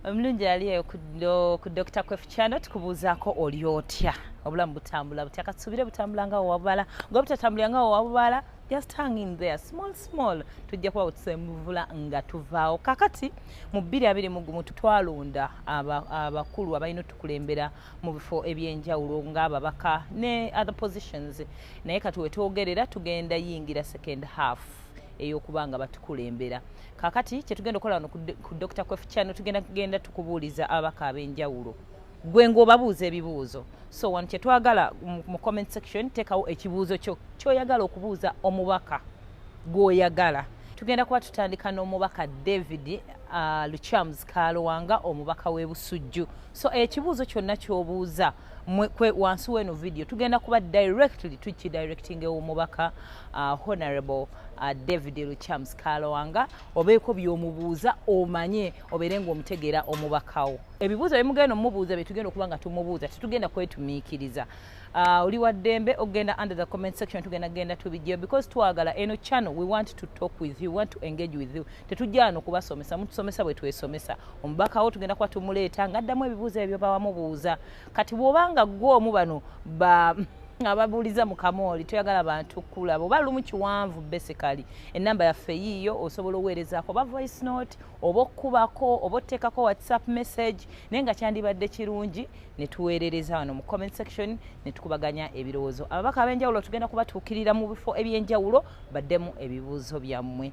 omulungi ali eyo ku dr kwefu channel tukubuuzaako oli otya obulamu butambula butya katusuubire butambula nga wewabala nga obutatambulira nga wewabala just hang in there small small tujja kuba wetusemuvula nga tuvaawo kakati mu bbiri abiri mu gumu twalonda abakulu aba abalina otukulembera mu bifo ebyenjawulo ng'ababaka ne other positions naye kati wetwogerera tugenda yingira second half ey'okuba nga batukulembera kakati kyetugenda okukola wano ku dr kwef channel tugenda kugenda tukubuuliza ababaka ab'enjawulo gwe ng'obabuuza ebibuuzo so wano kyetwagala mu comment section teekawo ekibuuzo kyo kyoyagala okubuuza omubaka gw'oyagala tugenda kuba tutandika n'omubaka david uh, luchams kalowanga omubaka w'ebusujju so ekibuuzo kyonna ky'obuuza kwe wansi weno video tugenda kuba directly tuki directing ewo mubaka uh, honorable uh, David Luchams Kalowanga obeeko byomubuuza omanye obeere ng'omutegeera omubakawo ebibuuzo byemugenda omubuuza byetugenda okuba nga tumubuuza tetugenda kwetumiikiriza uh, oli wa ddembe okugenda under the comment section tugenda genda tubijjeyo because twagala eno channel we want to talk with you we want to engage with you tetujja wano kubasomesa mutusomesa bwe twesomesa omubaka wo tugenda kuba tumuleeta ng'addamu ebibuuzo ebyo bawamubuuza kati bw'obanga ggwe omu bano ba ababuuliza mu kamooli toyagala bantu kulaba oba lumu kiwanvu basically enamba yaffe yiiyo osobola oweerezaako oba voice note oba okukubako oba oteekako whatsapp message naye nga kyandibadde kirungi ne tuweerereza wano mu comment section ne tukubaganya ebirowoozo ababaka ab'enjawulo tugenda kubatuukirira mu bifo eby'enjawulo baddemu ebibuuzo byammwe